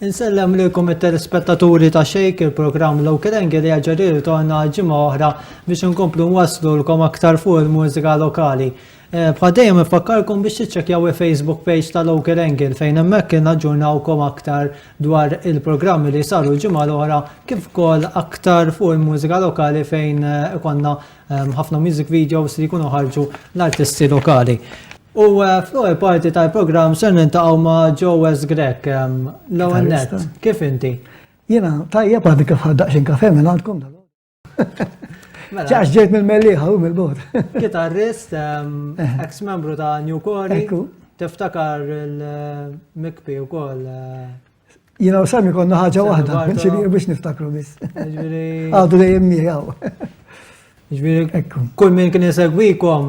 Insellem lilkom it-telespettaturi ta' Shake, il-programm Local Angle li jaġġa jirritorna għal ġimgħa oħra biex inkomplu nwaslulkom aktar fuq il-mużika lokali. Eh, bħal dejjem infakkarkom biex tiċċekkjaw il-Facebook page ta' Local Angle fejn hemmhekk kien aġġurnawkom aktar dwar il-programmi li saru l-ġimgħa l-oħra kif ukoll aktar fuq il-mużika lokali fejn eh, ikonna Ħafna music videos li jkunu ħarġu l-artisti lokali. U fl-ewwel parti tal-programm ser nintaqgħu ma' Joes Grek. L-ewwel net, kif inti? Jiena tajjeb għandi kif ħaddaqxin kafe minn għandkom dan. Mela. Ċax ġejt mill-melliħa u mill-bot. Kitarrist, ex-membru ta' New Corey. Tiftakar il-mikpi u koll. Jina u sami konna ħaġa wahda, ġviri biex niftakru bis. Għadu li jemmi għaw. Ġviri, kull minn kien jisegwikom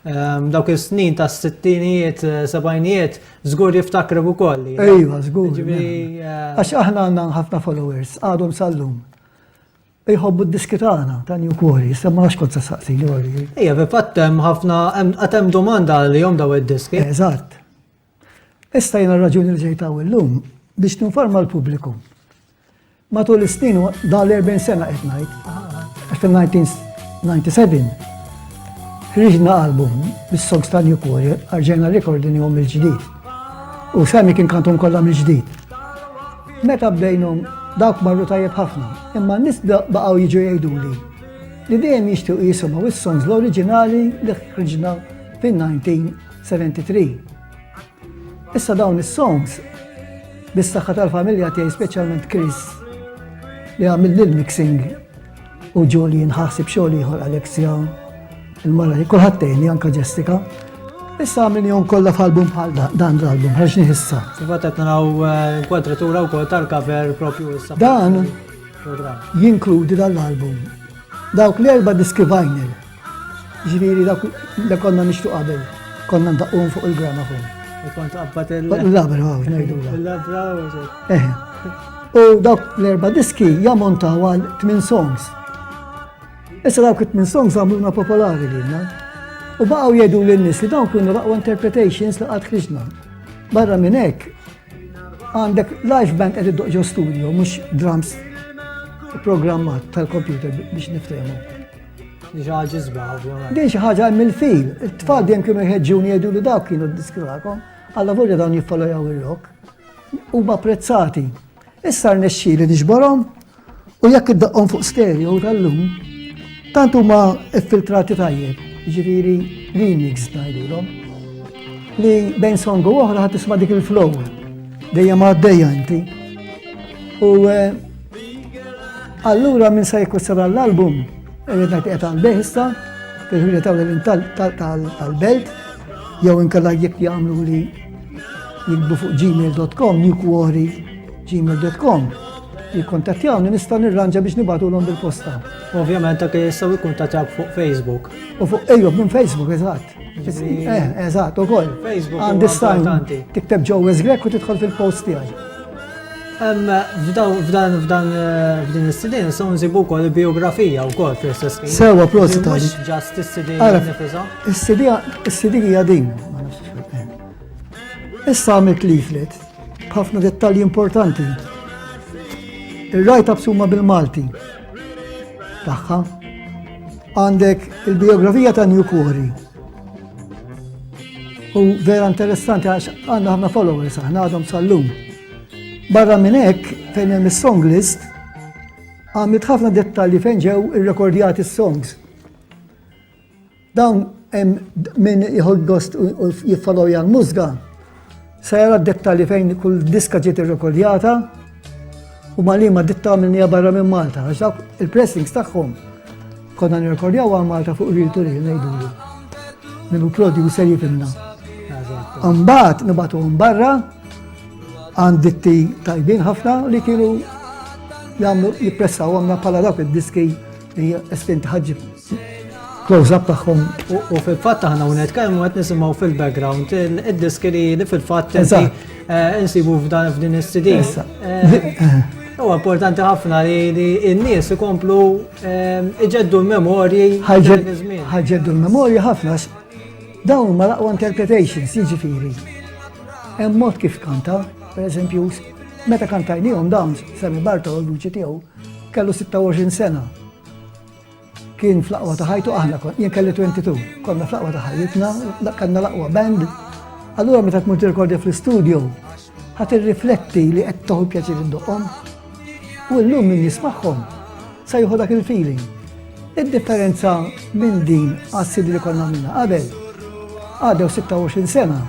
ehm, dawk il-snin ta' s-sittinijiet, eh, sabajnijiet, zgur jiftakru u koll. Ejwa, zgur. Eh, Għax aħna għanna ħafna followers, għadhom sallum. Iħobbu d-diskitana ta' New Quarry, semma għax kont saqsi li għori. Ija, bi fattem ħafna, għatem domanda li jom daw id-diski. Eżatt. Issa jiena raġuni li ġejt hawn illum biex ninforma l-pubbliku. Matul is-snin dan l-40 sena qed ngħid, fil-1997 ħriġna album bis-songs ta' New Quarry, arġena rekordi nihom mill-ġdid. U semmi kien kantum kollha mill-ġdid. Meta bdejnhom dawk marru tajjeb ħafna, imma n-nies baqgħu jiġu jgħiduli li dejjem jixtiequ jisimgħu is-songs l-oriġinali li ħriġna fin-19 73. Issa dawn is-songs bis-saħħa tal-familja tiegħi speċjalment Chris li għamil lil mixing u ġoli nħasib xogħol ieħor Alexia il-mara li kulħadd tgħinni anke Jessica. Issa għamilni jom kollha f'album bħal dan l-album ħarġ nieħissa. Fil-fatt qed naraw eh, kwadratura wkoll tal-cover propju issa. Dan jinkludi dan l-album. Dawk l-erba' diski vinyl Ġifieri dak li konna nixtu qabel, konna ndaqqum fuq il-gramafon. U kont qabbat il- Labra, għaw, ngħidula. Il-labra eh. u dawk l-erba' diski jammontaw għal tmien songs. Issa dawk it-tmien songs għamluna popolari lilna. U baqgħu jgħidu lin nies li dawn kienu raqwa interpretations li qatt ħriġna. Barra minn hekk, għandek live band qed iddoq ġo studio, mhux drums programmat tal-computer biex niftehmu. Diġa ġizba, ovvjament. Din xi ħaġa hemm il-fil. It-tfal dejjem kienu jħeġġuni jgħidu li dawk kienu d-diskrakom. Alla volja dawn jiffolajaw il-lok. Huma apprezzati. Issa rnexxi li niġborhom u jekk iddaqqhom fuq stereo tal-lum, tant huma iffiltrati tajjeb, ġifieri remix ngħidulhom. Li bejn songu oħra ħadd tisma' dik il-flow. Dejjem għaddejja inti. U eh, Allura minn se jkussara l-album, irrid ngħid qiegħed għall-beħista, fil-ħwienet tal-ewwel tal-belt, jew inkella jekk jagħmlu li jikbu fuq gmail.com, newquarry gmail.com jikkontattjawni nista' nirranġa biex nibatulhom bil-posta. Ovvjament anke jistgħu jikkuntattjawk fuq Facebook. U fuq ejjob minn Facebook eżatt. Eh, eżatt, u koll. Għandi stajn. Tikteb ġo Grek u tidħol fil-post tiegħi. F'dan f'dan eh, f'din is-sidin so nsibu wkoll biografija wkoll fl-istess ħin. Sewa prosi ta' Mhux ġast is-sidin nifisha. Is-sidin hija din. Issa għamilt leaflet b'ħafna dettalji importanti. Ir-rajt absuma bil-Malti. tagħha. Għandek il-biografija ta' New Quarry. U vera interessanti għax għandna ħafna followers aħna għadhom sal-lum. Barra minn hekk fejn hemm is-song list għamlet ħafna dettalji fejn ġew irrekordjati s-songs. Dawn hemm min jħodd gost u jiffolowja l-mużga se jara d-dettalji fejn kull diska ġiet irrekordjata u ma li ma ditta minnija barra minn Malta, għax dawk il-pressings tagħhom konna nirrekordjaw għal Malta fuq ril to ril ngħidulu. Minu producer jifimna. Mbagħad nibatu barra għand ditti tajbin ħafna li kienu jagħmlu jippressaw għamna bħala dawk id-diski li estinti ħagġib. Close up tagħhom. U fil-fatt aħna u nitkellmu qed nisimgħu fil-background id-diski li fil-fatt eh, insibu f'dan f'din is-CD. Eh, eh. U importanti ħafna li n-nies ikomplu iġeddu l-memorji. Ħagġeddu l-memorji ħafna dawn ma laqwa interpretations, jiġifieri. Hemm mod kif kanta, per eżempju, meta kantajnihom dawn Sami Bartol, l-uċi tiegħu, kellu 26 sena. Kien fl-aqwa ta' ħajtu aħna kon, jien kelli 22, konna fl-aqwa ta' ħajtna, kanna l-aqwa band. Allura meta tmur tirkordja fl-istudio, ħat irrifletti li qed toħu pjaċir id-doqom. U llum min jismagħhom sa jieħu dak il-feeling. Id-differenza minn din għas-sidi li konna minna qabel, għadew 26 sena,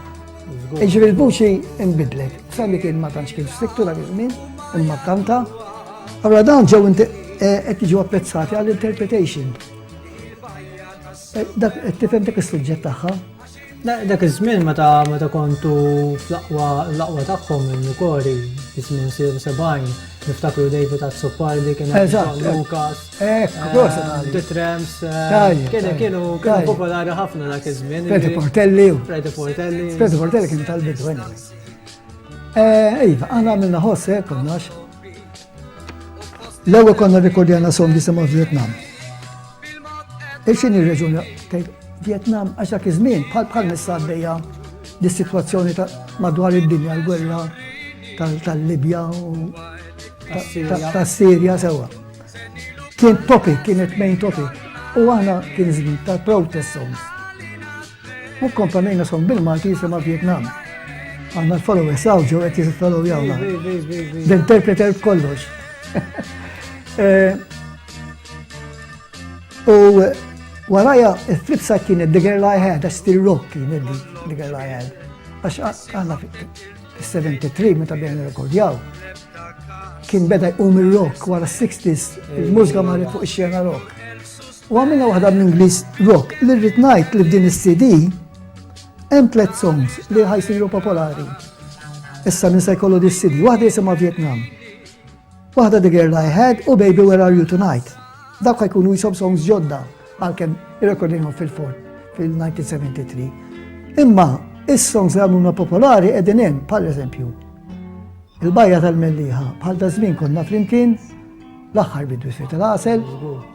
Iġri l-vuċi imbidlet, sali kien ma tantx kien striktu dak iż-żmien, imma kanta. Allora dawn ġew eh, qed jiġu apprezzati għall-interpretation. Eh, dak qed tifhem dak is-suġġett tagħha. Dak iż-żmien meta meta kontu fl-aqwa l-aqwa tagħhom il-Nukori, iż-żmien 70, niftakru David Azzopardi kien Lukas. Ekk, Dorsali. The Tramps. Tajja. Kienu kienu kienu popolari ħafna dak iż-żmien. Preti Portelli. Preti Portelli. Preti Portelli kien tal-bidu għenna. Eh, iva, għana għamilna ħosse, eh, konnax. L-ewwel konna rikordjana som jisimgħu Vietnam. Il-xini reġun Vietnam għax dak iż-żmien bħal bħal nissabbeja dis-sitwazzjoni madwar id-dinja l-gwerra tal-Libja u tas-Sirja sewwa. Kien topic, kienet main topic, u għana kien zmin ta' protest songs. U kompanejna song bil-Malti jisima Vietnam. Għanna l-followers għaw ġo għet jizit follow jawna. L-interpreter kollox. Eh, u waraja, il-flipsa kienet The Girl I Had, għax still rock kienet The Girl I Had. Għax għanna Fis-73 meta bdejna rekordjaw, kien beda jqum il-rock wara 60s, il-mużika marret fuq ix-xena rock. U għamilna waħda minn Ingliż rock li rrid ngħid li f'din is-CD hemm tliet songs li ħajsiru popolari. Issa minn se jkollu dis-CD, waħda jisimha Vietnam. Waħda The Girl I Had u Baby Where Are You Tonight. Dawk ħajkunu jisom songs ġodda għalkemm irrekordinhom fil-fort fil-1973. Imma is-songs li għamluna popolari qegħdin hemm, bħal eżempju, il-bajja tal-melliħa bħal ta' żmien konna flimkien l-aħħar bidu jsir tal-għasel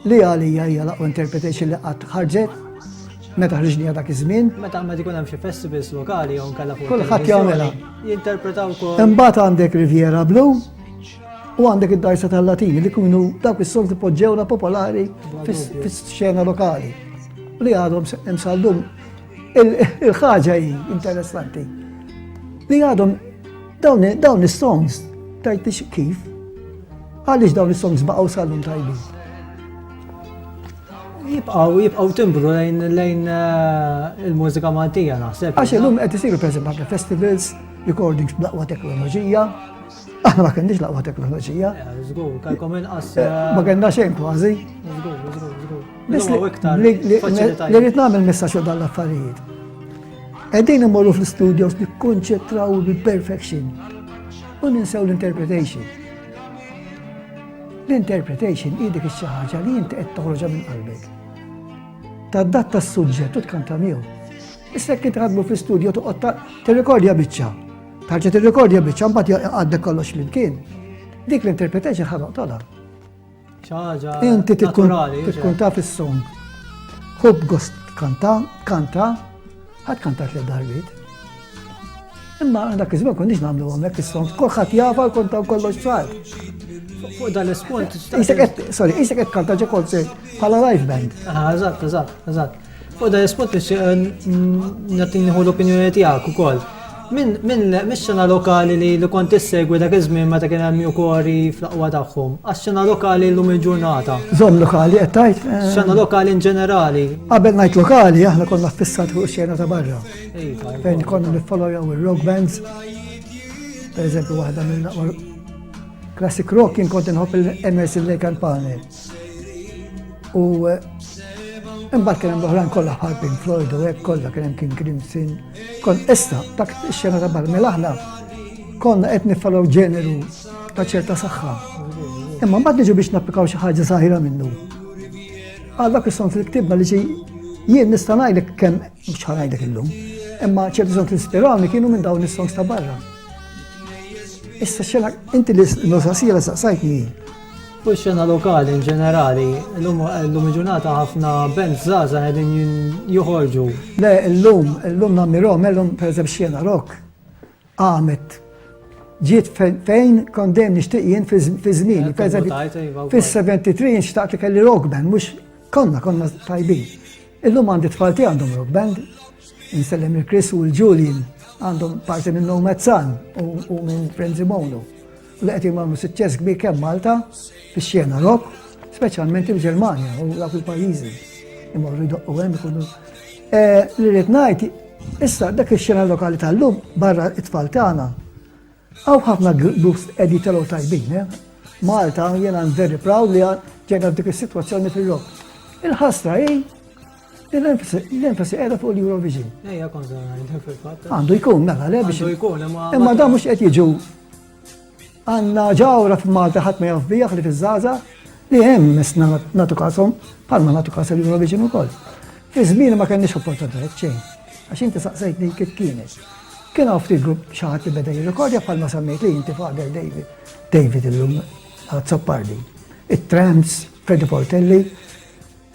li għalija hija laqwa interpretation li qatt ħarġet meta ħriġnija dak iż-żmien. Meta ma jkun hemm xi festivals lokali jew nkella fuq. Kulħadd jagħmilha. Jinterpretaw ukoll. Imbagħad għandek Riviera Blue U għandek id-dajsa tal-Latin li kunu dawk is-solti poġġewna popolari fis-xena lokali li għadhom imsallum. Il-ħaġa hi interessanti li għadhom dawn is-songs tajt kif għaliex dawn is-songs baqgħu sallum tajbin. Jibqaw, jibqaw timbru lejn lejn eh, il-mużika Maltija naħseb. Għax illum qed isiru pereżempju festivals, recordings b'laqwa teknoloġija, Aħna ma kenniex laqwa teknoloġija. Eh, żgur, kalkom inqas. Eh, ma eh, kellna xejn kważi. Żgur, żgur, żgur. Biss li rrid nagħmel messaġġ dan l-affarijiet. Qegħdin immorru fl-studios li konċetraw bil-perfection u ninsew l-interpretation. L-interpretation hi dik xi ħaġa li inti qed toħroġha minn qalbek. Tadatta s-suġġett u tkanta miegħu. Issa kien tħadmu fl-studio toqgħod tirrekordja biċċa. Tarġa tirrikordja biċċa mbagħad għaddek kollox flimkien. Dik l-interpretation ħa noqtolha. Ċaġa. Inti tikkun taf is-song. Hub gost kanta, kanta, ħadd kanta tliet darbit. Imma dak iż-żmien konniex nagħmlu hemmhekk is-song, kulħadd jafa jkun taw kollox ċar. Fuq dan l-ispont. Isek qed, sorry, isek qed kanta ġe konsert bħala live band. Ah, eżatt, eżatt, eżatt. Fuq da l-ispot nagħti nieħu l-opinjoni tiegħek ukoll. Minn mis-xena lokali li li kont issegwi dak iż-żmien meta kien hemm jukori fl-aqwa tagħhom, għax-xena lokali llum il-ġurnata. Żomm lokali qed tgħid? Xena lokali in ġenerali. Qabel ngħid lokali aħna konna ffissati fuq ix-xena ta' barra. Fejn konna niffollojaw ir-rock bands. Per eżempju waħda mill-aqwa classic rock kien kont inħobb il-Emerson Lake and Palmer. U imbagħad kien hemm l-oħrajn kollha bħal Pink Floyd u hekk kollha kien hemm King Crimson. Kon issa dak ix-xena ta' barra mill-aħla konna qed nifalgħu ġeneru ta' ċerta saħħa. Imma mbagħad niġu biex napplikaw xi ħaġa saħira minnu. Għal dak is-song li ktibna li xi jien nista' ngħidlek kemm mhux ħanajdlek illum, imma ċerti song li ispirani kienu minn dawn is-songs ta' barra. Issa xena inti li nusa sira saqsajtni Fuq ix-xena lokali in ġenerali, illum illum il-ġurnata ħafna bands żgħażagħ qegħdin joħorġu. Le illum, illum nammirhom, illum pereżempju x-xena rock qamet ġiet fejn kont dejjem nixtieq jien fi żmien. Iva, Fis-73 jien xtaqt li kelli rock band, mhux konna konna tajbin. Illum għandi tfalti għandhom rock band, insellem il-Chris u l-Julian għandhom parti minn Nomad Sun u minn Frenzy Mono. L-qegħdin għamlu suċċess kbir kemm Malta fix-xena rock, speċjalment il-Ġermanja u dawk il-pajjiżi. Imorru jdoqqu hemm ikunu. Eh, li rrid ngħid, issa dak ix-xena lokali tal-lum barra it-tfal tagħna. Hawn ħafna groups qegħdi telgħu tajbin, eh? Malta jiena very proud li ġejna f'dik is-sitwazzjoni fil-rock. Il-ħasra hi L-enfasi qiegħda fuq l-Eurovision. Ejja kontra fil-fatt. Għandu jkun mela le biex. Għandu jkun imma. Imma da mhux qed jiġu għandna ġawra f'Malta ħadd ma jaf bijaħ li fiż-żaża li hemm misna natu kasom bħalma natu kas l-Eurovision ukoll. Fi żmien ma kenniex opportunitajiet xejn. Għax inti saqsejtni kif kienet. Kien hawn ftit grupp xi ħadd li beda jirrekordja bħalma semmejt li inti fader David. David illum għad Soppardi. It-Trams, Freddy Portelli,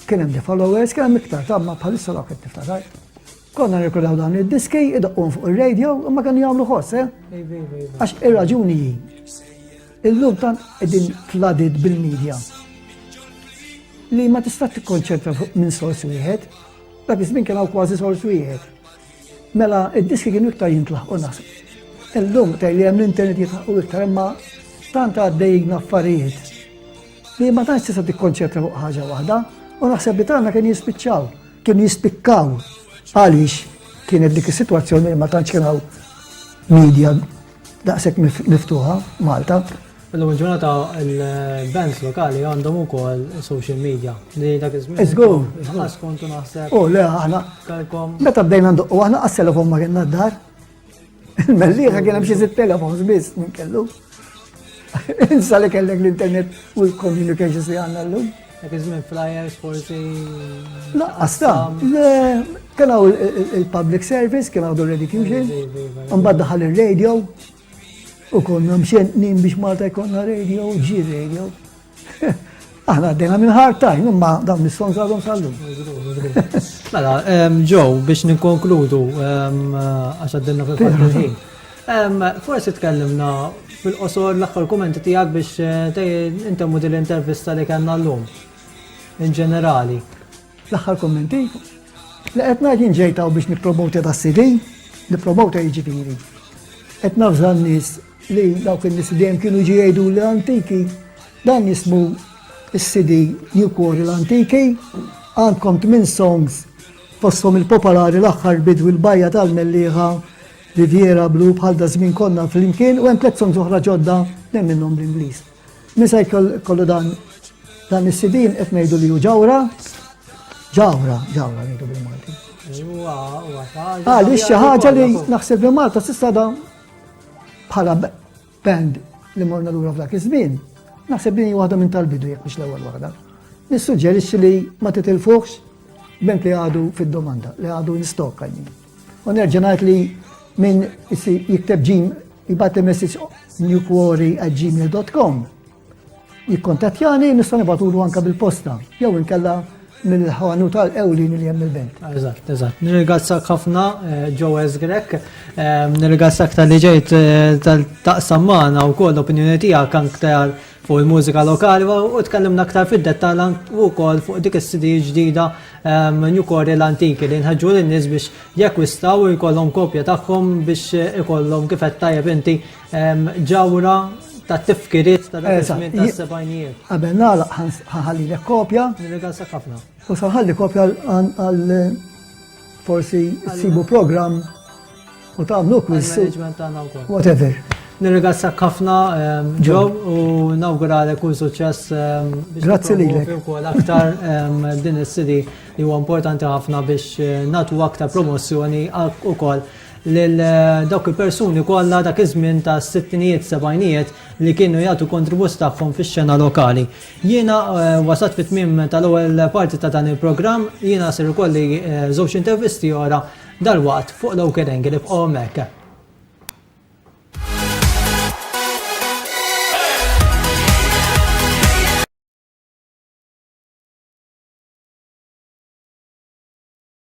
Kien hemm The Followers, kien hemm iktar, ta' ma bħalissa dawk qed niftakar. Konna nirkudaw dan id-diski, idoqqhom fuq ir-radio, imma kienu jagħmlu ħoss, eh? Għax ir-raġuni hi. Illum tan qegħdin flooded bil-medja li ma tista' tikkonċentra fuq minn sors wieħed, dak iż-żmien kien hawn kważi sors wieħed. Mela id-diski kienu iktar jintlaħqu naħseb. Illum tgħid li hemm l-internet jitlaħqu iktar imma tant għaddejjin affarijiet Li ma tantx tista' tikkonċentra fuq ħaġa waħda u naħseb li tagħna kien jispiċċaw. Kien jispikkaw għaliex kienet dik is-sitwazzjoni li ma tantx kien hawn media daqshekk miftuħa Malta. Illum ġurnata il-bands lokali għandhom ukoll social media li dak iż-żmien. Iżgur. Iżgur. Kontu naħseb. U le aħna. Meta bdejna ndoqqu aħna għas-telefon ma kienna d-dar. Il-mellieħa kien hemm xi sitt telefons biss minn kellu. Insa li kellek l-internet u l-communications li għandna llum. Dak iż-żmien flyers forsi. Laqqas ta' kien hawn il-public service, kien għadu ready fusion, mbagħad daħal ir-radio u konna mxentnin biex Malta jkollna radio, ġi radio. Aħna għaddejna minn hard time, imma dawn nisson għadhom sallu. Mela, ġew biex ninkonkludu għax għaddilna fil-ħin. Forsi tkellimna fil-qosor l-aħħar kumenti tiegħek biex eh, intemmu din l-intervista li kellna llum. In ġenerali. L-aħħar kummenti li qed ngħid inġejtaw biex nippromota da CD, nippromota jiġifieri. Qed nafża n-nies Li dawk in-nies li dejjem kienu jiġu jgħiduli l-antiki, dan jismu s-CD New Quarry l-Antiki, għandkom tmien songs fosthom il-popolari L-Aħħar Bidu Il-Bajja tal-Mellieħa, Riviera Blu, Bħal Da Żmien Konna Flimkien u hemm tliet songs oħra ġodda tnejn minnhom bl-Ingliż. Min se jkollu dan dan is-CD qed ngħidu li hu ġawra, ġawra, ġawra ngħidu bil-Malti. Għaliex xi ħaġa li naħseb li Malta s'issa da Bħala band li morna lura f'dak iż-żmien, naħseb li waħda minn tal-bidu jekk biex l-ewwel waħda. Nissuġġerixxi li ma titilfuħx band li għadu fid-domanda, li għadu in stock għajmin. U nerġa' ngħid li minn jikteb ġim jibgħat messaġġ newquarry@gmail.com jikkontattjani nista' nibatulu anke bil-posta jew inkella mill-ħanu tal-ewlin li hemm il-belt. Eżatt, eżatt. Nirgazzak ħafna Joes eh, Grek, eh, nirgazzak tal-li ġejt eh, tal-taqsam magħna wkoll opinjoni tiegħek aktar fuq il-mużika lokali u tkellimna aktar fid-dettall u wkoll fuq dik is-CD ġdida New Core l-antiki li nħeġġu lin-nies biex jakkwistaw u jkollhom kopja tagħhom biex ikollhom kif qed tajjeb inti Ġawra ta' tifkiriet ta' dak iż-żmien ta' sebajnijiet. Qabel nagħlaq ħalli lek kopja. Nirregal sa ħafna. U sa ħalli kopja għal forsi sibu programm u tagħmlu quiz. Whatever. Nirregal sa ħafna ġew u nawguralek kull suċċess. Grazzi lilek. Ukoll aktar din is-CD li huwa importanti ħafna biex nagħtu aktar promozzjoni ukoll lil dawk il-persuni kollha dak iż-żmien tas-sittinijiet, sebgħinijiet li kienu jagħtu kontribut tagħhom fix-xena lokali. Jiena wasalt fit-tmiem tal-ewwel parti ta' dan il-programm, jiena ser ikolli żewġ intervisti oħra dalwaqt fuq l-Oker Angle. Ibqgħu hemmhekk.